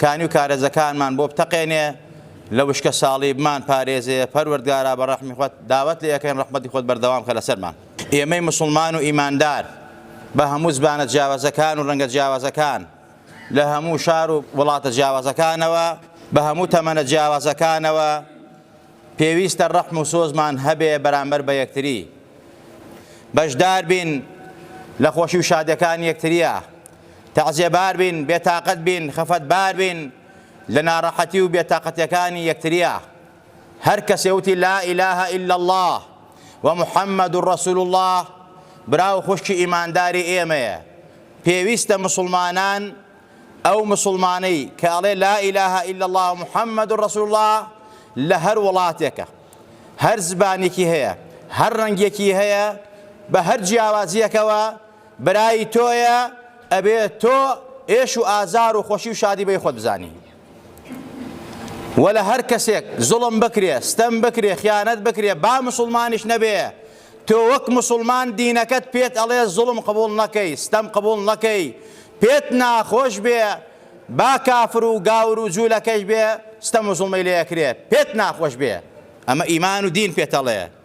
کانی و کارێزەکانمان بۆ بتەقێنێ لە وشکە ساڵی بمان پارێزێ پەروەردگارا بە ڕەحمی خوت داوەت لێ ئەکەین ڕەحمەتی خوت بەردەوام کە لەسەرمان ئێمەی موسڵمان و ئیماندار بە هەموو زبانە جیاوازەکان و ڕەنگە جیاوازەکان لە هەموو شار و وڵاتە جیاوازەکانەوە بە هەموو تەمەنە جیاوازەکانەوە پێویستە ڕەحم و سۆزمان هەبێ بەرامبەر بە یەکتری بەشدار بین لە خۆشی و شادەکان یەکتریە تەعزێبار بین، بێتاقەت بین، خەفەتبار بین لە ناڕەحەتی و بێتاقەتیەکانی یەکتریا. هەر کەسێ وتی لا الە الا اللە و محمد رسول اللە برا و خوشکی ئیمانداری ئێمەیە. پێویستە مسوڵمانان ئەو مسوڵمانەی کە ئەڵێ لا الە الا اللە و محمد رسول اللە لە هەر وڵاتێکە، هەر زبانێکی هەیە، هەر ڕەنگێکی هەیە، بە هەر جیاوازیەکەوە، برای تۆیە ئەبێ تۆ ئێش و ئازار و خۆشی و شادی بەی خۆت بزانی وەلە هەر کەسێک زوڵم بکرێ ستەم بکرێ خیانەت بکرێ با مسلمانیش نەبێ تۆ وەک مسلمان دینەکەت پێت ئەڵێ زوڵم قبول نەکەی ستەم قبول نەکەی پێت ناخۆش بێ با کافر و گاور و جوولەکەش بێ ستەم و زوڵمەی لێکرێ پێت ناخۆش بێ ئەمە ئیمان و دین پێتەڵێ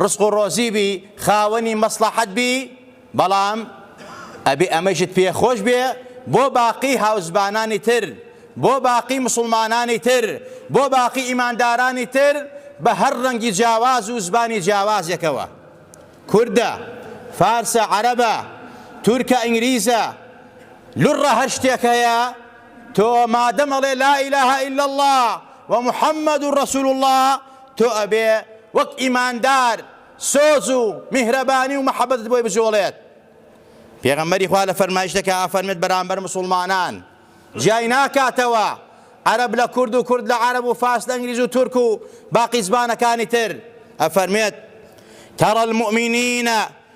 ڕزق و ڕۆزی بی خاوەنی مەسڵەحەت بی بەڵام ئەبێ ئەمەیشت پێ خۆش بێ بۆ باقی هاوزبانانی تر بۆ باقی مسوڵمانانی تر بۆ باقی ئیماندارانی تر بە هەر ڕەنگی جیاواز و زبانی جیاوازێکەوە کوردە فارسە عەرەبە تورکە ئینگلیزە لوڕە هەر شتێک هەیە تۆ مادەم ئەڵێ لا ئیلاهە ئیلا اللە ومحمد رسول الله تۆ ئەبێ وەک ئیماندار سۆز و میهرەبانی و مەحەبەتت بۆی بجوڵێت. پێغەمبەری خوا لە فەرمایشتەکە ئەفەرمێت بەرامبەر موسڵمانان جیای ناکاتەوە، عەرەب لە کورد و کورد لە عەرەب و فارس لە ئینگلیز و تورک و باقی زبانەکانی تر، ئەفەرمێت، تری المومنین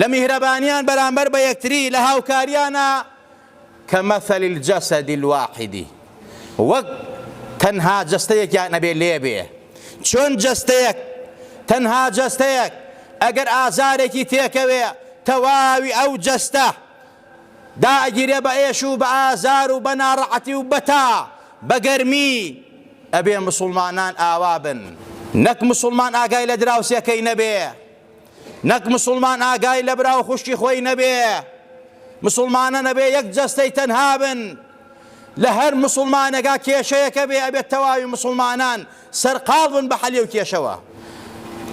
لە میهرەبانیان بەرامبەر بە یەکتری لە هاوکاریانە کمثل الجسد الواحد وەک تەنها جەستەیەکیان ئەبێ لێبێ چۆن جەستەیەک تەنها جەستەیەک ئەگەر ئازارێکی تێکەوێ تەواوی ئەو جەستە داگیرێ بە ئێش و بە ئازار و بە ناڕەعەتی و بەتا بە گەرمی ئەبێ مسلمانان ئاوا بن نەک مسلمان ئاگای لە دراوسێکەی نەبێ نەک مسوڵمان ئاگای لە برا و خوشکی خۆی نەبێ، مسوڵمانە نەبێ یەک جەستەی تەنها بن، لە هەر مسوڵمانێکا کێشەیەک هەبێ ئەبێ تەواوی مسوڵمانان سەرقاڵ بن بە حەلی ئەو کێشەوە،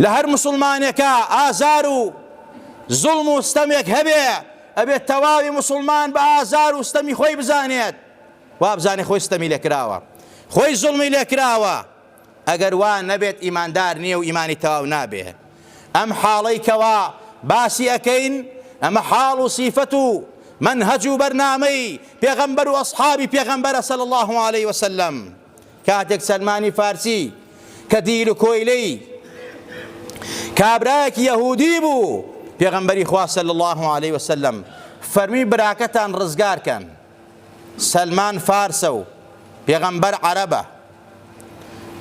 لە هەر مسوڵمانێکا ئازار و زوڵم و ستەمێک هەبێ ئەبێ تەواوی مسوڵمان بە ئازار و ستەمی خۆی بزانێت، وابزانێ خۆی ستەمی لێکراوە، خۆی زوڵمی لێکراوە، ئەگەر وا نەبێت ئیماندار نیە و ئیمانی تەواو نابێ ئەم حاڵەی کەوا باسی ئەکەین ئەمە حاڵ و سیفەت و منهج و بەرنامەی پێغەمبەر و ئەصحابی پێغەمبەرە صلی الله علیه وسلم کاتێک سەلمانی فارسی کە دیل و کۆیلەی کابرایەکی یەهودی بوو پێغەمبەری خوا صلی الله علیه وسلم فەرمی براکەتان ڕزگارکەن سەلمان فارسە و پێغەمبەر عەرەبە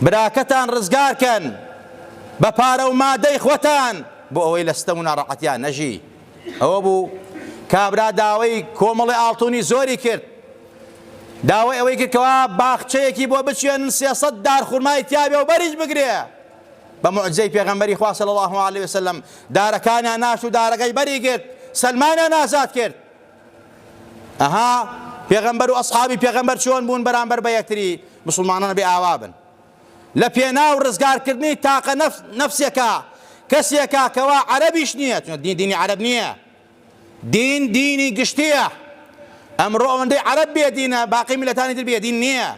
براکەتان ڕزگار کەن بە پارە و مادەی خۆتان بۆ ئەوەی لە ستەم و ناڕەحەتیان نەژی ئەوە بوو کابرا داوای کۆمەڵی ئاڵتونی زۆری کرد داوای ئەوەی کرد کەوا باخچەیەکی بۆ بچێنن سێسەد دار خورمای تیاوێ و بەریش بگرێ بە معجزەی پێغەمبەری خوا صلی الله علیه وسلم دارەکانیان ناشت و دارەکەی بەری گرت سەلمانیان ئازاد کرد ئەها پێغەمبەر و ئەسحابی پێغەمبەر چۆن بوون بەرامبەر بە یەکتری مسلمانان بێ ئاوا بن لە پێناو ڕزگارکردنی تاقە نەفسێکە کەسێکە کەوا عەرەبیش نییە چون دین دینی عەرەب نییە دین دینی گشتیە ئەمڕۆ ئەوەندەی عەرەب بێ دینە باقی میلەتانی تر بێ دین نییە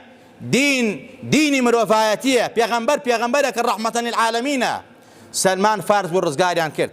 دین دینی مرۆڤایەتیە پێغەمبەر پێغەمبەرە کە ڕەحمەتەن للعالمینە سەلمان فارس بۆ ڕزگاریان کرد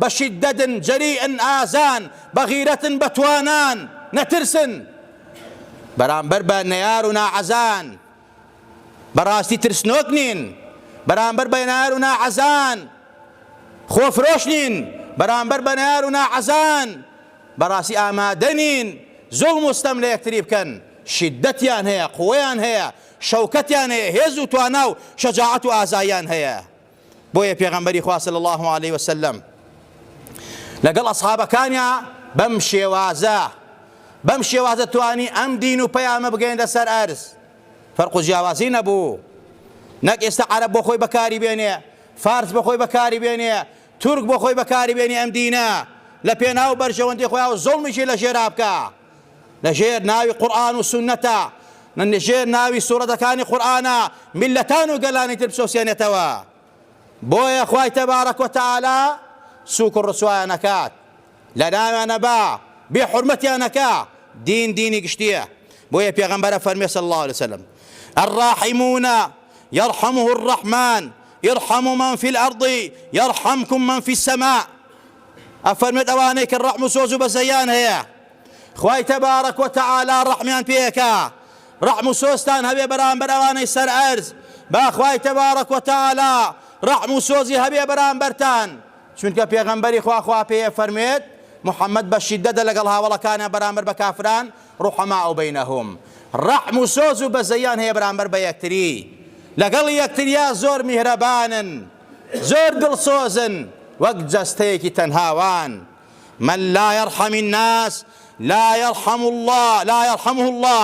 بە شیددەدن، جەریئن، ئازان، بە غیرەتن، بە توانان، نەترسن بەرامبەر بە نەیار و ناعەزان، بە ڕاستی ترسنۆک نین بەرامبەر بە نەیار و ناعەزان، خۆفرۆش نین بەرامبەر بە نەیار و ناعەزان، بە ڕاستی ئامادە نین زوڵم و ستەم لە یەکتری بکەن، شیددەتیان هەیە، قوەیان هەیە، شەوکەتیان هەیە، هێز و توانا و شەجاعەت و ئازاییان هەیە. بۆیە پێغەمبەری خوا صلی اللە علیه و سلم لەگەڵ ئەصحابەکانیا بەم شێوازە بەم شێوازە توانی ئەم دین و پەیامە بگەێنە سەر ئەرز فەرق و جیاوازی نەبوو نەک ئێستا عەرب بۆ خۆی بەکاری بێنێ فارس بۆ خۆی بەکاری بێنێ تورک بۆ خۆی بەکاری بێنێ ئەم دینە لە پێناو بەرژەوەندی خۆیان و زۆڵمیشی لە ژێرا بکە لە ژێر ناوی قورئان و سوننەتە، لە ژێر ناوی سورەتەکانی قورئانە میللەتان و گەلانی تر بچەوسێنێتەوە. بۆیە خوای تبارک و تعالی سوک و ڕسوایان ئەکات، لە ناویان ئەبا، بێ حورمەتیان ئەکا، دین دینی گشتیە، بۆیە پێغەمبەر ئەفەرموێ صلی اللە علیە وسلم، الراحمون یرحمهم الرحمن ارحموا من فی الارض یرحمکم من فی السماء، ئەفەرمێت ئەوانەی کە ڕەحم و سۆز و بەزەییان هەیە خوای تەبارەک و تەعالا ڕەحمیان پێ ئەکا، ڕەحم و سۆزتان هەبێ بەرامبەر ئەوانەی سەر ئەرز، با خوای تەبارەک و تەعالا ڕەحم و سۆزی هەبێ بەرامبەرتان، چونکە پێغەمبەری خوا خوا پێی ئەفەرموێت، محمد بە شیددەتە لەگەڵ هاوەڵەکانیان بەرامبەر بە کافران، رحماء بینهم، ڕەحم و سۆز و بەزەییان هەیە بەرامبەر بە یەکتری، لەگەڵ یەکتریا زۆر میهرەبانن. زۆر دڵسۆزن وەک جەستەیەکی تەنها وان، من لا یرحم الناس لا یرحم اللە لا یرحمه اللە،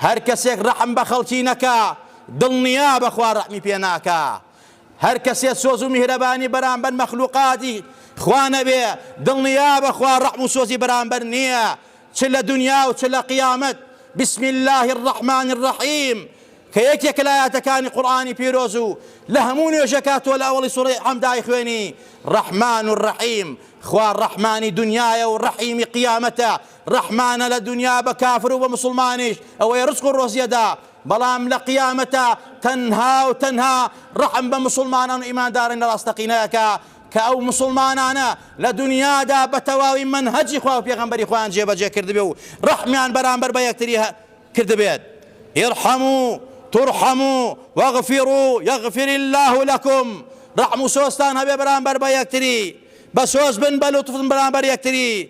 هەر کەسێک ڕەحم بە خەڵکی نەکا دڵنیابە خوا ڕەحمی پێ ناکا، هەر کەسێ سۆز و میهرەبانی بەرامبەر مەخلوقاتی خوا نەبێ دڵنیابە خوا ڕەحم و سۆزی بەرامبەر نیە چ لە دونیا و چ لە قیامەت، بسم اللە الرحمن الرحیم. کە یەکێکە لە ئایەتەکانی قورئانی پیرۆز و لە هەموو نوێژێکا تۆ لە ئەوەڵی سورەی حمد ئایخوێنی، رحمن الرحیم، خوا رەحمانی دونیایە و رەحیمی قیامەتە، رەحمانە لە دونیا بە کافر و بە موسڵمانیش ئەوەی رزق و رۆزی ئەدا، بەڵام لە قیامەتا تەنها و تەنها رەحم بە موسڵمانان و ئیماندارانی راستەقینە ئەکا کە ئەو موسڵمانانە لە دونیادا بە تەواوی مەنهەجی خوا و پێغەمبەری خۆیان جێبەجێ کردبێ و رەحمیان بەرامبەر بە یەکتری کردبێت، ارحموا ترحموا واغفروا یغفر اللە لکم، ڕەحم و سۆزتان هەبێ بەرامبەر بە یەکتری، بە سۆز بن بە لوتف بەرامبەر یەکتری،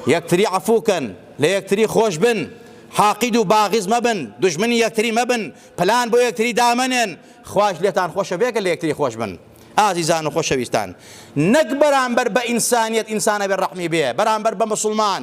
یەکتری عەفوو کەن، لە یەکتری خۆش بن، حاقید و باغز مەبن، دوژمنی یەکتری مەبن، پلان بۆ یەکتری دامەنێن، خوایش لێتان خۆشە بێ گەر لە یەکتری خۆش بن. ئازیزان و خۆشەویستان، نەک بەرامبەر بە ئینسانیەت ئینسان ئەبێ ڕەحمی بێ بەرامبەر بە موسڵمان،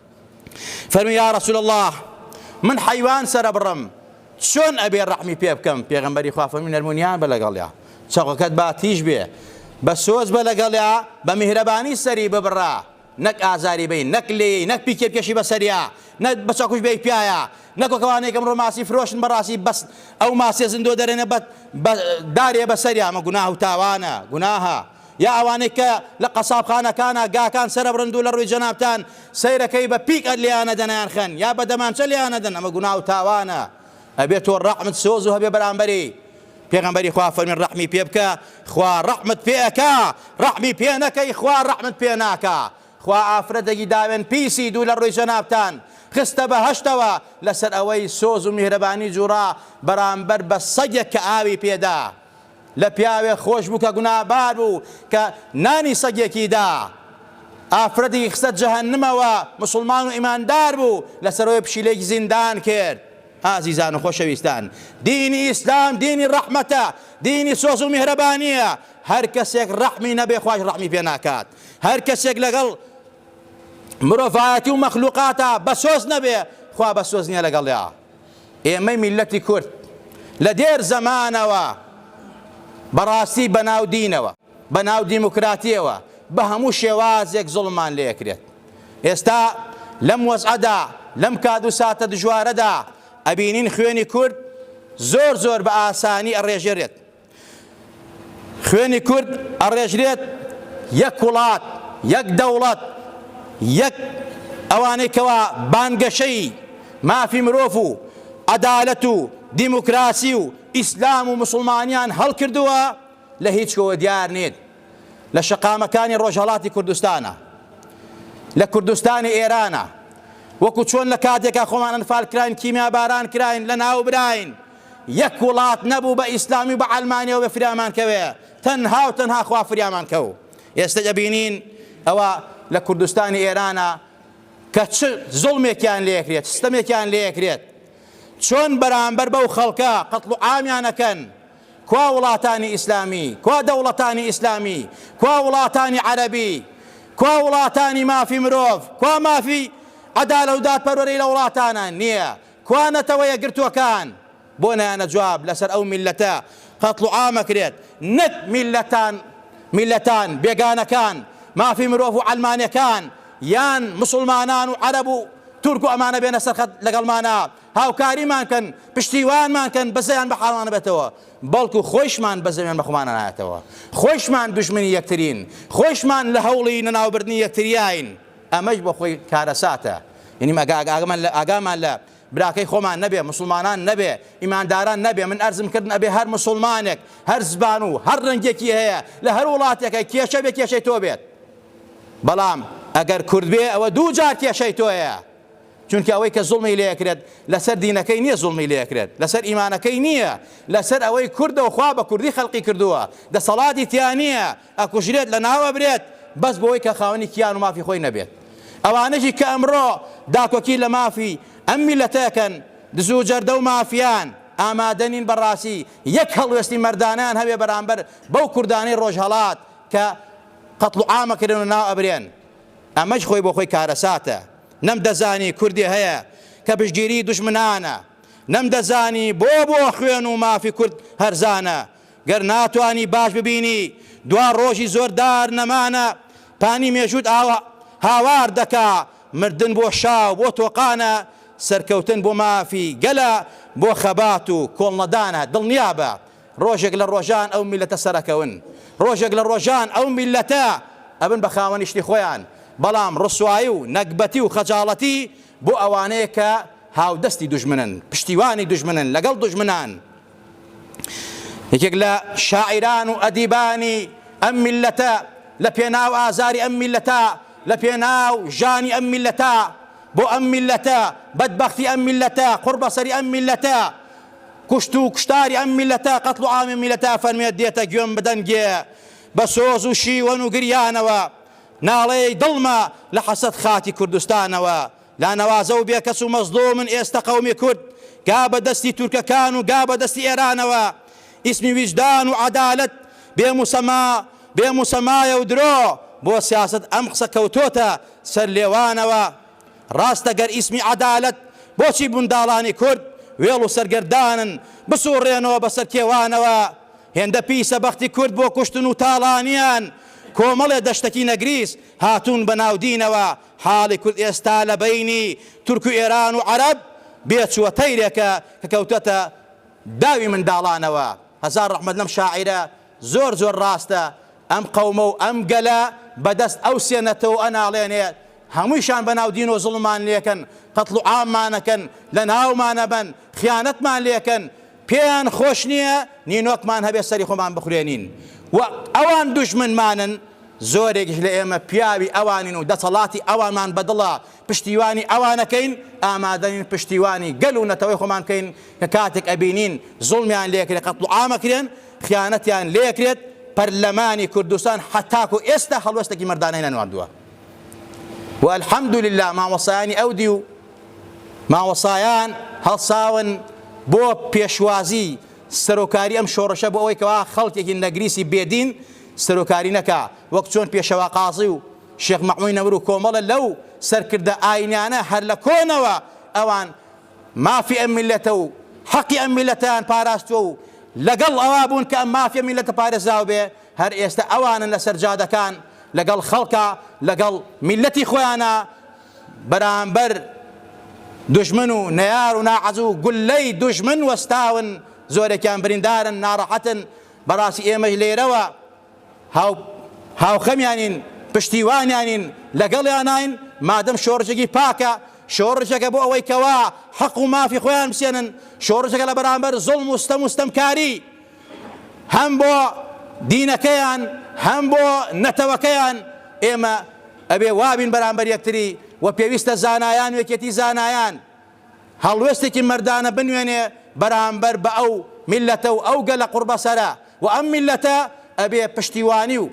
فەرمووی، یا رسول اللە من حەیوان سەرەبڕم چۆن ئەبێ رەحمی پێ بکەم؟ پێغەمبەری خوا فەرمووی، نەرمونیان بە لەگەڵیا، چەقۆکەت با تیژ بێ، بە سۆز بە لەگەڵیا، بە میهرەبانی سەری ببڕە، نەک ئازاری بەی، نەک لێی، نەک پیکێ بکێشی بەسەریا، نەک بە چەقوش بێی پیایا، نەک وەک ئەوانەی کە ئەمڕۆ ماسی فرۆشن بەڕاستی بەس ئەو ماسیە زندۆ دەرێنە بە دارێ بەسەریا، ئەمە گوناه و تاوانە، گوناهە. یا ئەوانەی کە لە قەسابخانەکانە گاکان سەرەبڕن دوو لە ڕووی جەنابتان سەیرەکەی بە پیک ئەد لێیان ئەدەن ئەیان خەن یا بە دەمانچە لێیان ئەدەن ئەمە گوناو و تاوانە ئەبێ تۆ ڕەحمت سۆزو هەبێ بەرامبەری پێغەمبەری خوا فەرمین ڕەحمی پێ بکە خوا ڕەحمت پێ ئەکا ڕەحمی پێ نەکەی خوا ڕەحمت پێ ناکا خوا ئافرەتێکی داوێن پیسی دوو لە ڕووی جەنابتان خستە بەهەشتەوە لەسەر ئەوەی سۆز و میهرەبانی جوڕا بەرامبەر بە سەگێک کە ئاوی پێدا لە پیاوێ خۆش بوو کە گونابار بوو کە نانی سەگێکی دا ئافرەتێکی خستە جەهەنمەوە مسوڵمان و ئیماندار بوو لەسەرەوەی پشیلێکی زیندان کرد ئازیزان و خۆشەویستان دینی ئیسلام دینی ڕەحمەتە دینی سۆز و میهرەبانیە هەر کەسێک ڕەحمی نەبێ خواش ڕەحمی پێ ناکات هەر کەسێک لەگەڵ مرۆڤایەتی و مەخلوقاتە بەسۆز نەبێ خوا بەسۆز نییە لەگەڵیا ئێمەی میللەتی کورد لە دێر زەمانەوە بەڕاستی بەناو دینەوە، بەناو دیموکراتیەوە بە هەموو شێوازێک زوڵممان لێ ئەکرێت. ئێستا لەم وەزعەدا، لەم کات و ساتە دژوارەدا ئەبینین خوێنی کورد زۆر زۆر بە ئاسانی ئەڕێژێرێت. خوێنی کورد ئەڕێژرێت یەک وڵات یەک دەوڵەت یەک ئەوانەی کەوا بانگەشەی مافی مرۆڤ و عەدالەت و دیموکراسی و ئیسلام و مسلمانیان هەڵکردووە لە هیچ کۆوە دیار نیت لە شەقامەکانی ڕۆژهەڵاتی کوردستانە لە کوردستانی ئێرانە وەکو چۆن لە کاتێکا خۆمان ئەنفال کراین کیمیا باران کراین لە ناو براین یەک وڵات نەبوو بە ئیسلامی و بە عەلمانیەوە بێ فریامان کەوێ تەنها و تەنها خوا فریامان کەو ئێستا دەبینین ئەوە لە کوردستانی ئێرانە کە چ زوڵمێکیان لێکرێت سیستەمێکیان لێکرێت چۆن بەرامبەر بەو خەڵکە قەتڵ و عامیانەکەن کوا وڵاتانی ئیسلامی کوا دەوڵەتانی ئیسلامی کوا وڵاتانی عەربی کوا وڵاتانی مافی مرۆڤ کوا مافی عەدالە و دادپەروەری لە وڵاتانە نییە کوا نەتەوە یەکگرتووەکان؟ بۆ نایەنە جواب لەسەر ئەو میللەتە قەتڵوعام ئەکرێت نەک میللەتان میللەتان بێگانەکان مافی مرۆڤ و عەلمانێکان یان مسوڵمانان و عەرەب و تورک و ئەمانە بێنە سەر خەت لەگەڵمانا هاوکاریمان کەن پشتیوانمان کەن بەزەیان بە حاڵانە بێتەوە بەڵکو خۆیشمان بەزەیان بەخۆمانە نایەتەوە خۆیشمان دوژمنی یەکترین خۆیشمان لە هەوڵی نەناوبردنی یەکتریاین ئەمەیش بۆ خۆی کارەساتە. یەنی ئەگە ئاگامان لە ئاگامان لە براکەی خۆمان نەبێ، موسڵمانان نەبێ، ئیمانداران نەبێ، من ئەرزم کردن ئەبێ هەر موسڵمانێک، هەر زبان و هەر ڕەنگێکی هەیە لە هەر وڵاتێکە کێشە بێ کێشەی تۆ بێت. بەڵام ئەگەر کورد بێ ئەوە دوو جار کێشەی تۆیە. چونکە ئەوەی کە زوڵمی لێ کرێت لەسەر دینەکەی نییە زوڵمی لێ کرێت، لەسەر ئیمانەکەی نییە، لەسەر ئەوەی کوردە و خوا بە کوردی خەلقی کردووە، دەسەڵاتی تیا نییە، ئەکوژرێت لەناو ئەبرێت بەس بۆوەی کە خاوەنی کیان و مافی خۆی نەبێت ئەوانەشی کە ئەمڕۆ داکۆکی لە مافی ئەم میلەتە ئەکەن دزو جەردەو مافیان ئامادە نین بەڕاسی یەک هەڵوێستی مەردانەیان هەبێ بەرامبەر بەو کوردانەی ڕۆژهەڵات کە قەتڵ و عام ئەکرێن و ناو ئەبرێن ئەمەش خۆی بۆ خۆی کارەساتە نەم دەزانی کوردێ هەیە کە پشتگیری دوژمنانە نەم دەزانی بۆ بۆ خوێن و مافی کورد هەرزانە گەر ناتوانی باش ببینی دوا ڕۆژی زۆر دار نەمانە پانی مێژووت ئاوا هاوار دەکا مردن بۆ شا و بۆ تۆقانە سەرکەوتن بۆ مافی گەلە بۆ خەبات و کۆڵنەدانە دڵنیابە ڕۆژێک لە ڕۆژان ئەو میلەتە سەرەکەون ڕۆژێک لە ڕۆژان ئەو میلەتە ئەبن بە خاوەنی شتی خۆیان بەڵام ڕسوایی و نەگبەتی و خەجاڵەتی بۆ ئەوانەیە کە هاودەستی دوژمنن پشتیوانی دوژمنن لەگەڵ دوژمنان یەکێک لە شاعیران و ئەدیبانی ئەم میللەتە لە پێناو ئازاری ئەم میللەتە لە پێناو ژانی ئەم میللەتە بۆ ئەم میللەتە بەدبەختی ئەم میللەتە قوڕبەسەری ئەم میللەتە کوشت و کوشتاری ئەم میللەتە قەتڵ و عامی میللەتە فەرمێت دێتە گوێم بدەنگێ بە سۆز و شیوەن و گریانەوە ناڵێی دڵمە لە حەسەت خاکی کوردستانەوە لا نەوازە و بێ کەس و مەزلومن ئێستە قەومی کورد گا بە دەستی تورکەکان و گا بە دەستی ئێرانەوە ئیسمی ویژدان و عەدالەت بێ موسەما بێ موسەمایە و درۆ بۆ سیاسەت ئەم قسە کەوتۆتە سەر لێوانەوە ڕاستە گەر ئیسمی عەدالەت بۆچی بنداڵانی کورد وێڵ و سەرگەردانن بسوڕێنەوە بە سەر کێوانەوە هێندە پیسە بەختی کورد بۆ کوشتن و تاڵانیان کۆمەڵێ دەشتەکی نەگریس هاتوون بە ناو دینەوە حاڵی کورد ئێستا لە بەینی تورک و ئێران و عەرەب بێ چووە تەیرێکە کە کەوتۆتە داوی منداڵانەوە. هەزار ڕەحمەت لەم شاعیرە زۆر زۆر ڕاستە ئەم قەومە و ئەم گەلە بە دەست ئەو سێ نەتەوە ئەناڵێنێ هەموویشان بە ناو دینەوە زوڵممان لێکەن قەتڵ و عاممان ئەکەن لە ناومان ئەبەن خیانەتمان لێکەن پێیان خۆش نییە نینۆکمان هەبێت سەری خۆمان بخورێنین و ئەوان دوژمنمانن، زۆرێکیش لە ئێمە پیاوی ئەوانین و دەسەڵاتی ئەوانمان بە دڵە، پشتیوانی ئەوانەکەین، ئامادەنین پشتیوانی گەل و نەتەوەی خۆمان بکەین کە کاتێک ئەبینین زوڵمیان لێکرێت، قەتڵوعام ئەکرێن، خیانەتیان لێکرێت، پەرلەمانی کوردستان هەتاکو ئێستا هەڵوێستێکی مەردانەی نەنواردووە و الحمدللە مامۆستایانی ئەو دیو، مامۆستایان هەڵساون بۆ پێشوازی سەرۆکاری ئەم شۆڕشە بۆ ئەوەی کەوا خەڵکێکی نەگریسی بێدین سەرۆکاری نەکا وەک چۆن پێشەوا قازی و شێخ مەعموی نەمر و کۆمەڵە لەو سەرکردە ئاینیانە هەر لە کۆنەوە ئەوان مافی ئەم میلەتە و حەقی ئەم میلەتیان پاراستوە و لەگەڵ ئەوا بوون کە ئەم مافی ئەم میلەتە پارێزراو بێ هەر ئێستا ئەوانن لەسەر جادەکان لەگەڵ خەڵکە لەگەڵ میلەتی خۆیانە بەرامبەر دوژمن و نەیار و ناعەزوو گوللەی دوژمن وەستاون زۆرێکیان بریندارن ناڕەحەتن بەڕاستی ئێمەش لێرەوە هاو هاوخەمیانین پشتیوانیانین لەگەڵیاناین مادەم شۆڕشێکی پاکە شۆڕشەکە بۆ ئەوەی کەوا حەق و مافی خۆیان بسێنن شۆڕشەکە لە بەرامبەر زۆڵم و ستەم و ستەمکاری هەم بۆ دینەکەیان هەم بۆ نەتەوەکەیان ئێمە ئەبێ وابین بەرامبەر یەکتری و پێویستە زانایان وێکێتی زانایان هەڵوێستێکی مەردانە بنوێنێ بەرامبەر بە ئەو میلەتە و ئەو گەلە قوڕبەسەرە و ئەم میلەتە ئەبێ پشتیوانی و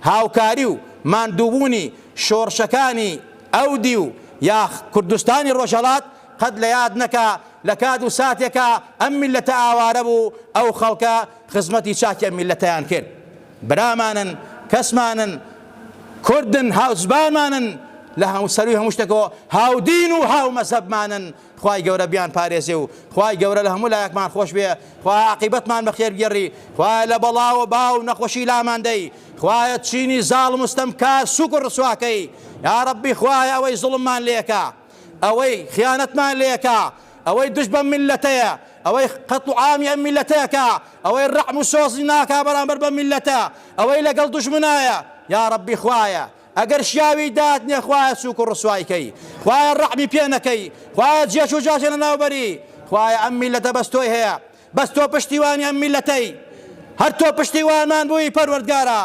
هاوکاری و ماندووبوونی شۆڕشەکانی ئەو دیو یا کوردستانی ڕۆژهەڵات قەت لە یاد نەکا لە کات و ساتێکا ئەم میللەتە ئاوارە بوو ئەو خەڵکە خزمەتی چاکی ئەم میللەتەیان کرد برامانن کەسمانن کوردن هاوزبانمانن لە هەموو سەروی هەموو شتێکەوە هاودین و هاو مەزەبمانن خوای گەورە بیان پارێزێ و خوای گەورە لە هەموو لایەکمان خۆش بێ خوای عقیبەتمان بەخێر گێڕی خوای لە بەڵاوە باو نەخۆشی لاماندەی خوایە چینی زاڵ مستەم کار سوک و ڕسواکەی یا ڕبی خوای ئەوەی زڵممان لێکە ئەوەی خیانەتمان لێکا، ئەوەی دژ بەم میللەتەیە، ئەوەی قەتڵ و عامی ئەم میللەتەکا، ئەوەی ڕەعم و سۆزی ناکا بەرامبەر بەم میللەتە، ئەوەی لەگەڵ دوژمنایە، یا ڕەبی خوایە ئەگەر شیاوی داتنێ خوایە سووک و ڕسوای کەی، خوایە ڕەحمی پێ نەکەی، خوایە جێچوو جاشێ لەناو بەری، خوایە ئەم میللەتە بەس تۆی هەیە، بەس تۆ پشتیوانی ئەم میلەتەی هەر تۆ پشتیوانمان بووی پەروەردگارا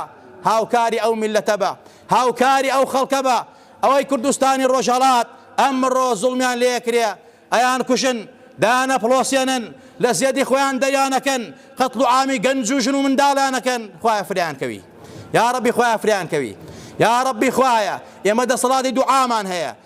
هاوکاری ئەو میلەتە بە هاوکاری ئەو خەڵکە بە ئەوەی کوردستانی ڕۆژهەڵات ئەمڕۆ زوڵمیان لێکرێ ئەیان کوشن دایانە پڵۆسێنن لە زێدی خۆیان دەریانەکەن قەتڵ و عامی گەنج و ژن و منداڵیانەکەن خوایە فریان کەوی یا ڕەبی خوایە فریان کەوی یا ڕەبی خوایە ئێمە دەسەڵاتی دوعامان هەیە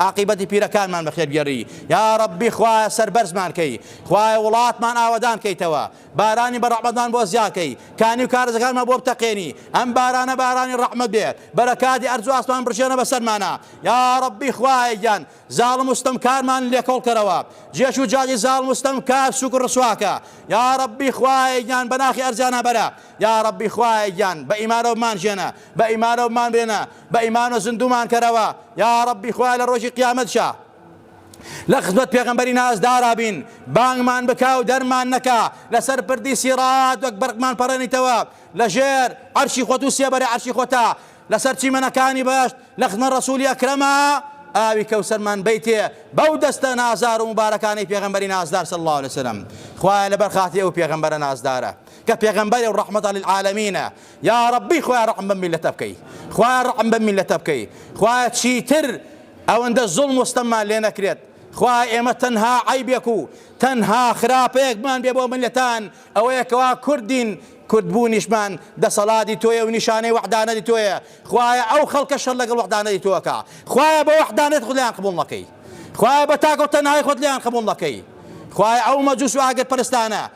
ئاقیبەتی پیرەکانمان بەخێر گێڕی یاڕەبی خوایە سەربەرزمان کەی خوایە وڵاتمان ئاوەدان کەیتەوە بارانی بە ڕەحمەتمان بۆ زیاکەی کانی و کارزەکانمان بۆ بتەقێنی ئەم بارانە بارانی ڕەحمەت بێ بەرەکاتی ئەرز و ئاسمان بڕژێنە بەسەرمانە یاڕەبی خوایە گیان زاڵم و ستەمکارمان لێکۆڵ کەرەوە جێش و جاجی زاڵم و ستەمکار سوک و ڕسواکە یاڕەبی خوایە گیان بەناخی ئەرزیانە بەرە یاڕەبی خوایە گیان بە ئیمارەوەمان ژێنە بە ئیمارەوەمان برێنە بە ئیمانۆ زندومان کەرەوە یاڕەبی خوا لە ڕۆژی قیامەت شا لە خزمەت پێغمبەری نازدارا بین بانگمان بکا و دەرمان نەکا لەسەر پردی سیڕات وەک بەرقمان پەڕێنیتەوە لە ژێر عەرشی خۆت و سێبەرە عەرشی خۆتا لەسەر چیمەنەکانی بەشت لە خزمە ڕسوولی ئەکرەما ئاوی کەوسەرمان بیتێ بەو دەستە نازار و مبارەکانی پێغمبەری نازدار صلی الله علیه وسلم خوایە لەبەر خاتری ئەو پێغمبەرە نازدارە کە پێغمبەری و ڕەحمەت للعالمینە یاڕەبی خوایە ڕەحم بەم میلەتە بکەی خوایە ڕەحم بەم میلەتە بکەی خوایە چیتر ئەوەندە زوڵم و ستەممان لێ نەکرێت خوایە ئێمە تەنها عیبێک و تەنها خراپەیەکمان بێ بۆ میلەتان ئەوەیە کەوا کوردین کوردبوونیشمان دەسەڵاتی تۆیە و نیشانەی وەحدانەتی تۆیە خوایە ئەو خەڵکە شەر لەگەڵ وەحدانەتی تۆکە خوایە بە وەحدانەت خود لێیان قبوڵ نەکەی خوایە بە تاک و تەنهای خود لێیان قبوڵ نەکەی خوایە ئەو مەجوس و ئاگر پەرستانە